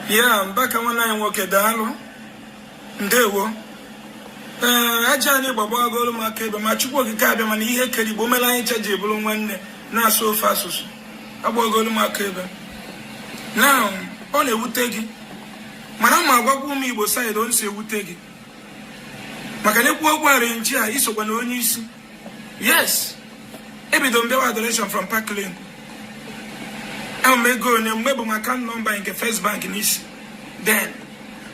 ya mbaka nwanne anyị nwoke daalụ ndewo ee aja anị gba gbagolu m aka ebe ma chukwu okike abịama na ihe kere igbo mere anyị cha ji bụrụ nwanne na-asụ ofu asụsụ agbagolu m aka ebe na ọ na-ewute gị mana ma agwakwa ụmụ igbo saịdị o si ewute gị maka na e kwuo okwu arenji a i sokwa na onye isi yes ebido m bịawa adoration from park lane ahụ m ego onye mgbe bu m account nọmba nke first bank n'isi then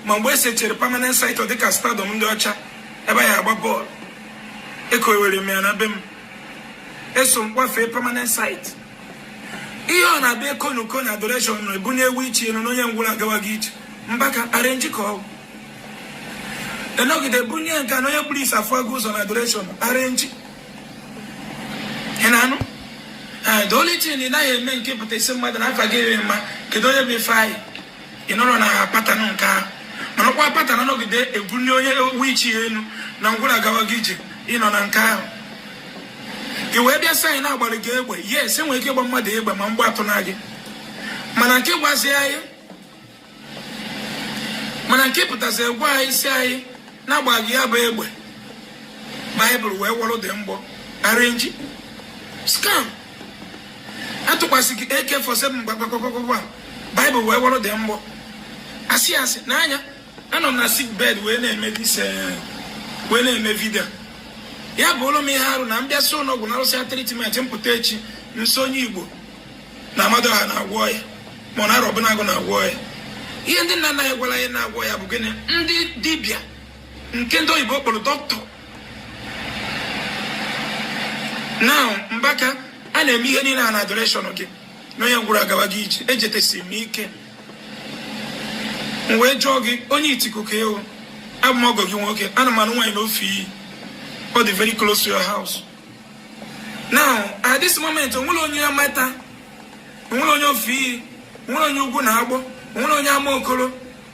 ma mgbe esechere permanent site dịka stadium ndị ọcha ebe ya agba bọọlụ ekowere m ya na be m eso m kwafee permanent site ihe ọ na-abịa ekonuko na adoration na ebunie wheelchair elu na onye ngwụlọ agawago ije mbaka arenji ka ọ bụ enọgide bụrụ nye nke na onye kpuru isi afụgo ụzọ na adoration arenji ị na-anụ ee the only thing ị naghị eme nke pụta sị mmadụ na afa gị emma kedu onye bụ ifeanyi ị nọrọ na patana nke ahụ mana ọkwa patana nọgide ebulie wheelchair elu na ngwụrọ agawago ije ịnọ na nke ahụ i wee bịa sị anyị na agbalụ gị egbe yes enwere ike ịgba mmadụ egbe ma mgbọ atụna gị mana nke ị gwazi anyị mana nke ị pụtasị gwa anyị sị anyị na agba gị ya bụ egbe baịbụl wee wọrọ the mgbọ arenji skam atụkwasị gị ak forty seven mgbakpakpakpakpa baịbụl wee wọrọ the mgbọ asị asị n'anya anọ m na sik bed wee na-eme dis eh, wee na-eme vidio ya bụlụ m ihe arụ na m bịasị ụlọọgwụ narụsịa tritment m pụta echi m sị onye igbo na amadịọha na-agwọ ya ma ọ na arọbụnagụ na-agwọ ya ihe ndị nna nna ya gwara ya na-agwọ ya bụ gịnị ndị dibịa nke ndị oyibo kpọrọ dọkịta now mbaka a na-eme ihe niile a na adoreshọn gị na onye ngwụrọ agawago ije ejetesi m ike m wee jụọ gị onye ituku ka ị wụ abụ m ọgọ gị nwoke ana m anụ nwaanyị na ofeiyi ọ dị very close to your house now at this moment onwere onye amata onwere onye ofeiyi onwere onye ugwunagbọ onwere onye amokoro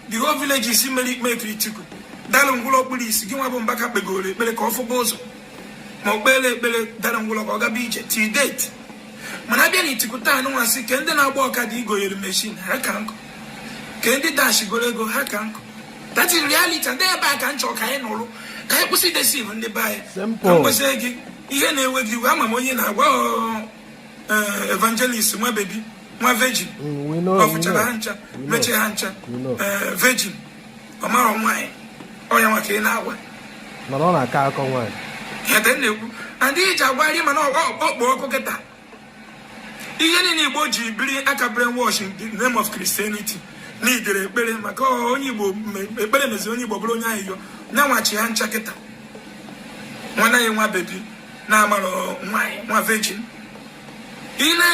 the whole villages mere ikpe etu ituku dara ngwụlọ kpuru isi gị nwa bụ mbaka kpegoro ekpere ka ọ fụba ụzọ ma ọ kpere ekpere dara ngwụlọ ka ọ gaba ije till date mana abịa na ituku taa anụnwasị ke ndị na-agba ọkada i goyere meshin ha ka nkụ ke ndị ị dashigoro ego ha ka nkụ that is reality ndị ebe a ka m chọ ka anyị nụrụ ka anyị kwụsị idesiv ndị be anyị ka m gwazi gị ihe na-ewe gị iwe ama m onye ị na-agwa eh, evangelist nwa bebi nwa virgin mm, ọ fụchara ha ncha mechie ha ncha eh, virgin ọ mara nwaanyị ọ nya nwa ka ị na-agwa mana ọ na-aka akọ nwaanyị ya na-ekwu ndị iji agwarị mana ọkpọ ọkụ kịta ihe niile igbo ji biri aka brainwash in the name of christianity na idere ekpere maka onye igbo ekpere meziri onye igbo bụrụ onye ayịyọ nyanwachi ha ncha kịta nwanne anyị nwa bebi na-amarọ nwaanyị nwa virgin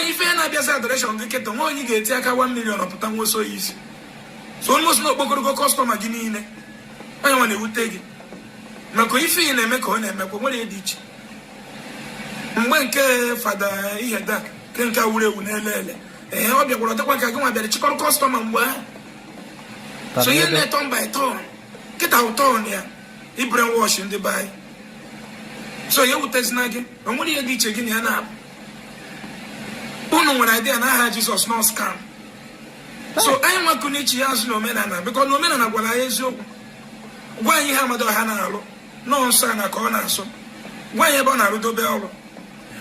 ife na-abịazi adoration gị kịta nwa onye ga-eti aka 1 million ọ pụta nwa oso ya isi so onye osi na o kpokọrọgo customer gị niile ọ ya nwa na-ewute gị maka ife ị na-eme ka ọ na-emekwa nwerọ ihe dị iche mgbe nke fada ede nke nke wuru ewu n'elele ee ọ bịakwara ọ dịkwa ka gị nwa bịara chịkọrọ customer mgbe ahụ so ihe na turn by turn kịta ọ turn ya ịbrainwash ndị be anyị so ya ewutezina gị o nwerọ ihe dị iche gị na ya na abụọ unu nwere idea na aha jizọs na ọ scam so anyị nwakụ n'ichi ya azụ na omenala because na omenala gwara anyị eziokwu gwa anyị ihe amadịọha na-alụ na ọ nsọ ana ka ọ na-asọ gwa anyị ebe ọ na-arụdebe ọrụ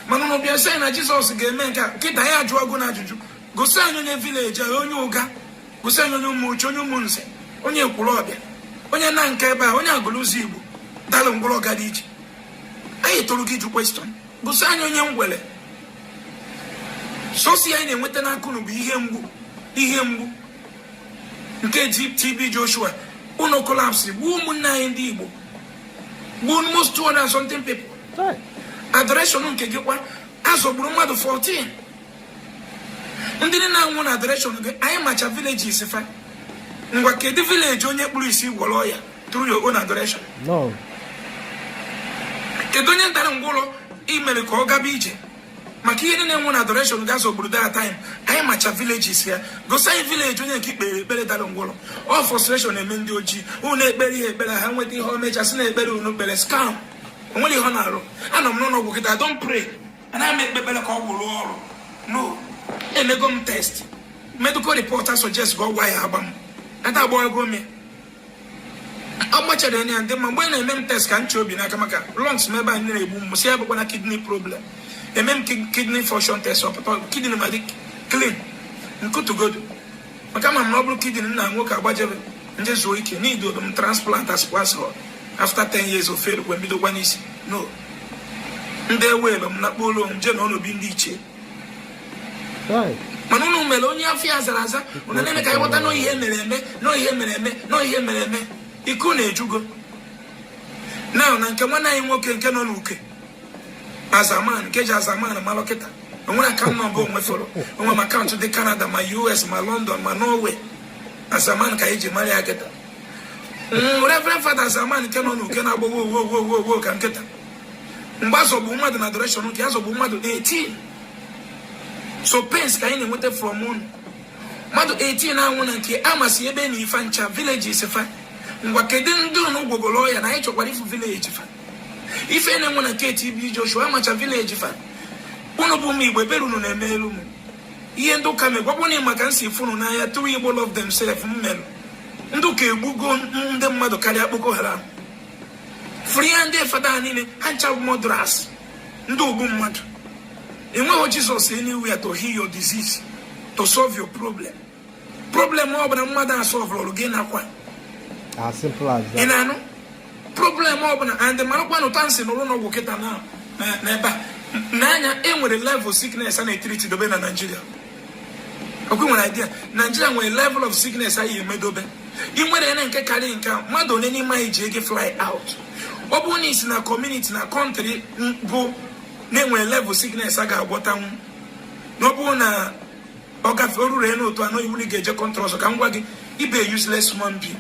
mana ụnụ bịa sị na jizọs ga-eme nke a kịta anyị ajụọ gụ na ajụjụ gosi anyị onye village a onye ụga gosi anyị onye ụmụchu onye ụmụnze onye ekwulọbịa onye nanka ebe a onye agụlụzigbo dalụ ngwụrọ ọ gaba ije anyị tụrụ gị jụ question gosi anyị onye ngwụrọ sọsọ ihe anyị na-enweta n'aka ụnụ bụ ihe mgbu ihe mgbu nke TB Joshua ụnọ collapsịrị gbuo ụmụnne anyị ndị Igbo gbuo almost 200 and something people adoration nke gị kwa a zọgburu mmadụ 14 ndị niile na-anwụ na adoration gị anyị macha villages fa ngwa kedu village onye kpuru isi ị gwọrọ ya through your own adoration kedu onye dara ngwụrọ i mere ka ọ gaba ije maka ihe niile nwụrụ na adoration gị a zọgburu that time anyị macha villages ha gosi anyị village onye nke i kpere ekpere dara ngwụrọ ọ frustration eme ndị ojii unu ekpeere ha ekpere ha nweta ihe o mechaa sị na ekpere unu kpere scam o nwerọ ihe ọ na-arụ anọ m n'ụlọ ọgwụ kịta don't pray anaghị m ekpe ekpere ka ọ gwụrụ ọrụ no emego m test medical report suggestigo ọgwụ a ya agba m ata agba ego m ya agbachara ya m dị mma mgbe a na-eme m test ka m chị obi n'aka maka lungs m ebe anyị na-egbu m sị abụkwana kidney problem emee m kidney function test ọ pụta kidney m adị clean m kutugodu maka ama m na ọ bụrụ kidney nna nwoke agbajebe m je zuo ike n'idodo m transplant as passport after 10 years ọ fail e wee bidokwa n'isi no m jewe ebe m na kpọrọ m jee nọọ n'obi ndị ichie mana unu mere onye afọ ya zara aza unu na-eme ka anyị ghọta nọ ihe mere eme nọ ihe mere eme nọ ihe mere eme ike unu ejugo na na nke nwanne anyị nwoke nke nọ n'uke azaman nke ji azaman malụ kịta onwere akaụntụ nọmba onwe fọrọ onwe m akaụntụ dị kanada ma us ma lọndọn ma norway azaman ka anyị ji mara ya kịta reverend fada azaman nke nọ n'uke na-agbawo owo owo owo ka nkịta mgbe a zọgbu mmadụ na adoration nke a zọgbu mmadụ 18 so pains ka anyị na-enweta from unu mmadụ 18 na-anwụ na nke amasị ebe na ife ncha villages fa ngwa kedu ndị unu gwọgoro ọya na anyị chọkwara ịfụ village fa ife na-enwe na nke TB Joshua a macha village fa unu bụ ụmụ igbo ebere unu na-emelu m ihe ndị ụka megwakwa na maka m si fụ unu n'anya true igbo love themselves m merụ ndị ụka egbugo ndị mmadụ karịa Boko Haram fụrụ ihe ndị fada niile ha ncha bụ murderers ndị ogbu mmadụ enweghị Jesus anywhere to heal your disease to solve your problem problem ọ bụla mmadụ asolvụrụ gị nakwa ị na-anụ problem ọ bụla and marakwa na ụta nsị n'ụlọ ọgwụ kịta na n'ebe a n'anya e nwere level of sickness a na-etreat dobe na Nigeria okwu nwere idea Nigeria nwere level of sickness anyị emedobe ị nwere ene nke karịrị nke a mmadụ one n'ime anyị ji ego fly out ọ bụrụ na i si na community na country bụ na e nwere level sickness a ga-agwọtanwu na ọ bụrụ na ọ gafe o ruru n'otu anọ iwu ga-eje country ọzọ ka m gwa gị ị bụ useless human being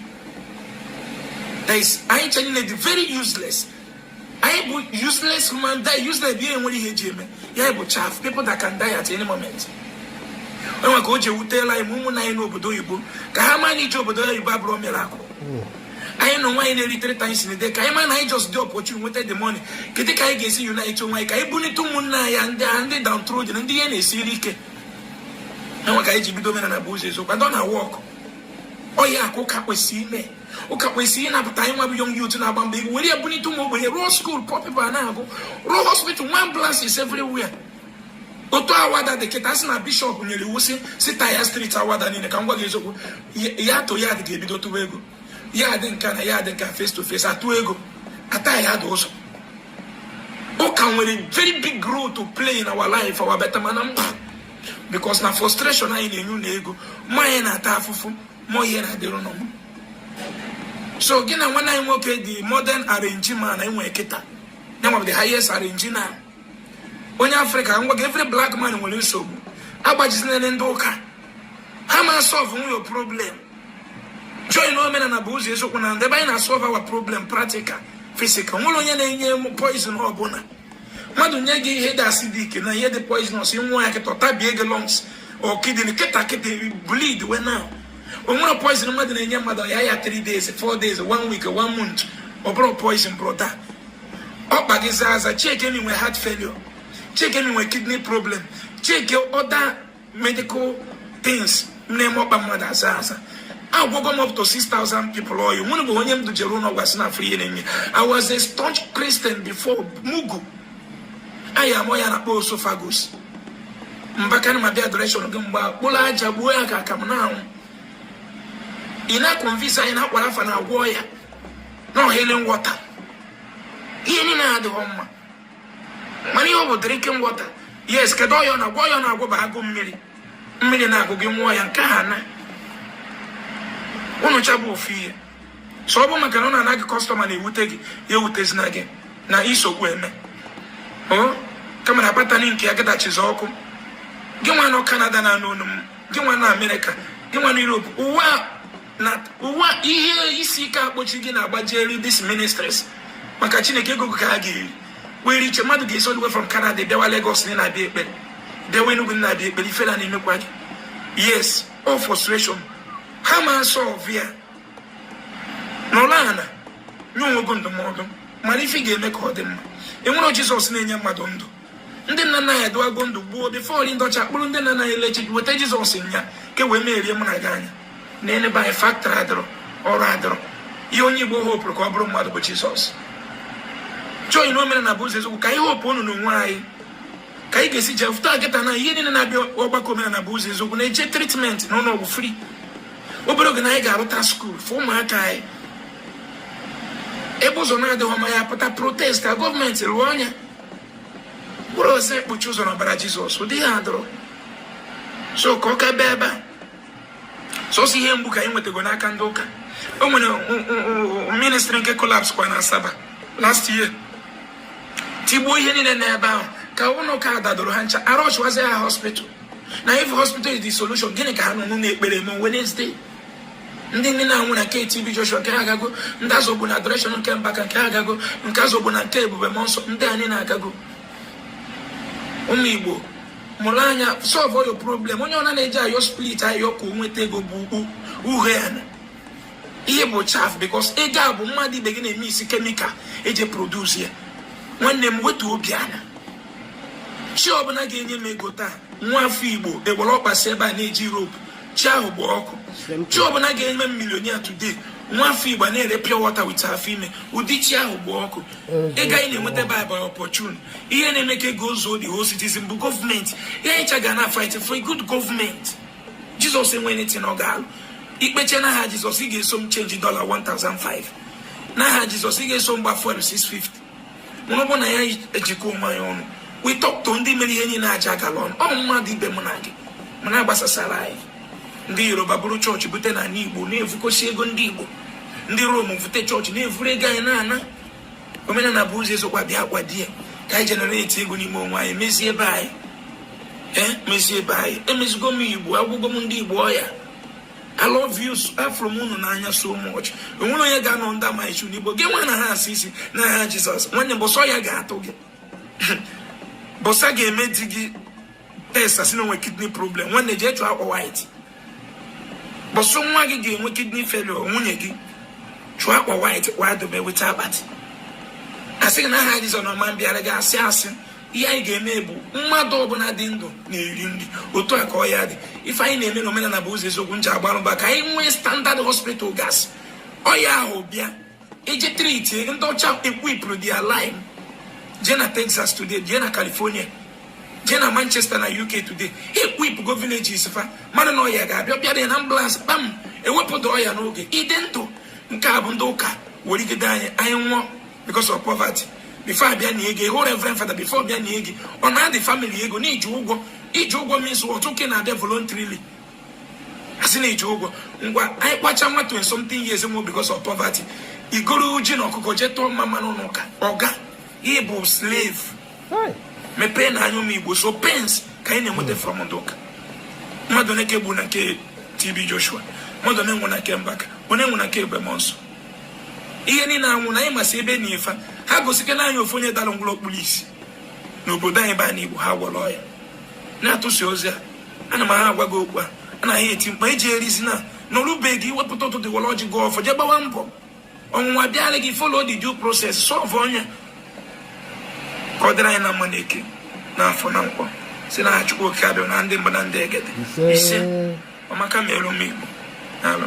anyị ncha niile dị very useless anyị bụ useless human die useless bụ ihe nwere ihe eji eme ya bụ chaff people that can die at any moment e nwe ka o ji ewutela anyị ma ụmụnna anyị n'obodo oyibo ka ha ma na ije obodo oyibo abụrọ miracle anyị na nwaanyị na-eri 3 times in a day ka anyị ma na anyị just dị opportune nweta the money kedu ka anyị ga-esi unite onwe anyị ka anyị bunite ụmụnna anyị ndị a ndị downtrodden ndị ihe na-esiri ike e nwe ka anyị ji bido omenala bụ ụzọ eziokwu ndụ ọ na-awork ọ ya ka ụka kwesịrị ime ụka kwesịrị ịnapụta anyị nwa bụ young youth na-agba mbọ ego were ya bunite ụmụ ogbenye rụọ school poor people na-agụ rụọ hospital nwee ambulances everywhere otu Awada dị kịta sị na bishop nyere iwu sị sị taya street Awada niile ka m gwa gị eziokwu yard to yard ga-ebido tụwa ego yard nka na yard nka face to face atụ ego ata ya dị ụzọ ụka nwere very big role to play in our life our better mana mba because na frustration anyị na-enye na ego ma onye na-ata afụfụ ma onye ọ na-adịrị mma so gị na nwanne anyị nwoke the modern arrangee man e nwee kịta ya nwa bụ the highest arrangee na onye Africa ngwa gị every black man nwere nsogbu agbajizinere ndị ụka ha ama solvenwu your problem join omenala bụ ụzọ eziokwu na ndụ ebe anyị na-asolve our problem practical physical nwere onye na-enye poison ọ bụla mmadụ nye gị ihe dị acidic na ihe dị poisonous ṅụọ ya kịta ọ tabie gị lungs or kidney kịta kịta bleed wee nwụọ o nwere poison mmadụ na-enye mmadụ ya ya 3 days 4 days 1 week 1 month ọ bụrụ poison brother ọkpa gị zaa aza check na i nwe heart failure check na i nwe kidney problem check ọda medical things m na-eme ọkpa mmadụ aza aza agwọgo m up to 6000 people ọya nwere bụ onye m dujere ụlọ ọgwụ asị na afụrọ ihe na-eme ya I was a staunch Christian before mugu anyị m ọya a na-akpọ oesophagus Mbaka ana m abịa adoration gị mgbe kpụrụ aja gbuo ya ka aka m na-anwụ ị na-akọnvinsi anyị na Aqua Rapha na-agwọ ọya na healing water ihe niile adịghị mma mana ihe ọ bụ drinking water yes kedu ọya ọ na-agwọ ọya ọ na-agwọ bụ agụụ mmiri mmiri na-agụ gị ṅụọ ya nke ha na unu ncha bụ ofu ihe so ọ bụ maka na ọ na-ana gị kọstọma na-ewute gị ya ewutezina gị na isogbu eme kama na batani nke ya gadachizi ọkụ gị nwa nọ kanada na-anụ olu m gị nwa na amerịka gị nwa na europe ụwa na nwa ihe isi ike akpọchi gị na-agbajeri these ministries maka chineke ego ka ha ga-eri were iche mmadụ ga-esi all the way from Canada bịawa Lagos na ị na-abịa ekpere bịawa Enugu na ị na-abịa ekpere ifele a na-emekwa gị yes all frustration ha ma solve ya nọrọ ala nye onwe gị ndụmọdụ mara ife ga-eme ka ọ dị mma enwerọ Jizọs na-enye mmadụ ndụ ndị nna nna anyị adịwago ndụ gboo bifọ ndị ọcha kpụrụ ndị nna nna anyị lechi weta jizọs nya ka e wee merie mụ na gị anya na be anyị faktọrị adịrọ ọrụ adịrọ ihe onye igbo hopụrụ ka ọ bụrụ mmadụ bụ jizọs join omenala bụ ụzọ eziokwu ka anyị hopụọ n'onwe anyị ka anyị ga-esi jee fụta kịtaa na ihe niile na-abịa ọgbakọ omenala bụ ụzọ eziokwu na-eje tritmenti na ụlọ ọgwụ fri obere oge na anyị ga-arụta skuul fọ ụmụaka anyị ebe ụzọ na-adịghị ọma anyị apụta protest ka gọọmenti rụọ nya ọ bụrọzi ikpuchi ụzọ n'ọbara jizọs ụdị ihe a adịrọ so ka ọ ka bee ebe a sọsọ ihe mgbu ka anyị nwetago n'aka ndị ụka o nwere ministri nke kolaps kwa na asaba last year tigbuo ihe niile n'ebe ahụ ka ụlọ ụka dadoro ha ncha a rushwazi ha hospital na if hospital is the solution gịnị ka ha nọ n'ụlọ ekpere eme Wednesday ndị niile na-anwụ na nke TB Joshua nke ha agago ndị azọgbu na adoreshọn nke Mbaka nke ha agago nke azọgbu na nke ebube mmụọ nsọ ndị anyị na-agago ụmụ Igbo mụrụ anya sọlvụọ your problem onye ọbụna na-eje ayọ spirit ayọ ka o nweta ego bụ ukwu uhe ana ihe bụ chaf bikos ego a bụ mmadụ ibe gị na-emiksi kemikal eji produs ya nwanne m wetuo obi ana chi ọbụla ga-enye m ego taa nwa afọ Igbo ewere ọkpa si Libya na-eje Europe chi ahụ gba ọkụ chi ọbụla ga-eme m milionia today nwa afọ Igbo na-ere pure water wit afọ ime ụdị chi ahụ gba ọkụ ego anyị na-enweta by opportune ihe na-eme ka ego zuo the whole citizen bụ gọọmenti ihe anyị ncha ga na-afight for a good gọọmenti jizọs enwerọ anything ọ ga-alụ i kpechaa n'aha jizọs ị ga-eso m chenji dọla 1005 n'aha jizọs ị ga-eso m gba fuel 650 mana ọ bụ na anyị ejikọ onwe anyị ọnụ we talk to ndị mere ihe niile aja agala ọnụ ọ bụ mmadụ ibe mụ na gị mana agbasasara anyị ndị yoruba buru chọọchị bute n'ala igbo na-evukosi ego ndị igbo ndị rom vute chọọchị na-evuru ego anyị na-ana omenala bụ ụzọ eziokwu bịa kwado ya ka anyị generate ego n'ime onwe anyị mezie ebe anyị ee mezie ebe anyị emezigo m igbo agwọgo m ndị igbo ọya I love you afụrụ m unu n'anya so much o nwere onye ga-anọ ndị amaghị chi n'igbo gị nwa na ha asị isi n'aha jizọs nwanne bọsị ọya ga-atụ gị bọsị a ga-eme di gị test a sị na o nwe kidney problem nwanne jee chọọ akwa white bọsị nwa gị ga-enwe kidney failure nwunye gị chọọ akwa white kwa dobe weta akpati asị gị n'aha jizọs na ọ ma bịara gị asị asị ihe anyị ga-eme bụ mmadụ ọbụla dị ndụ na-eri nri otu a ka ọya dị ife anyị na-eme n'omenala bụ ụzọ eziokwu m ji agba mbọ ka anyị nwee standard hospital gas ọya ahụ bịa e jee treat ndị ọcha ekwipụrụ their land jee na Texas today jee na California jee na Manchester na UK today ekwipụgo villages fa mmadụ na ọya ga-abịa bịa dị na ambulance kpam ewepụta ọya n'oge ị dị ndụ nke a bụ ndị ụka erigide anyị anyị nwụọ because of poverty before abịa na ego ịhụ reverend father before bịa na ego ọ na-adị family ego na iji ụgwọ iji ụgwọ means ọtụ nke na-abịa voluntarily asị na iji ụgwọ ngwa anyị kpacha nwa 20 something years nwụọ because of poverty i goro ji na ọkụkọ jee tụọ mmamma n'ụka ọga ị bụ slave mepeenụ anya ụmụ igbo sọ pains ka anyị na-enweta from ndị ụka mmadụ na-eke gbu na nke TB Joshua mmadụ na-anwụ na nke Mbaka onye enwe na nke Ebube Mụọnsọ ihe niile anwụ na anyị masị ebe na ife ha gosike na anyị ofu onye dara ngwụlọ o kpuru isi n'obodo anyị be anyị igbo ha gwọrọ ọya na-atụsi ozi a ana m ha agwa gị okwu a anaghị eti mkpu eji erizi na n'ọrụbeghị i tepụta ụtụtụ were ọjị gọọ ọfọ jee gbawa mbọ ọnwụnwa bịara gị follow the due process solve ya ka ọ dịrị anyị na mma na eke n'afọ na nkwọ si na chukwu oke abịama ndị mbụ na ndị egede ise ọmaka merụ m igbo n'alụ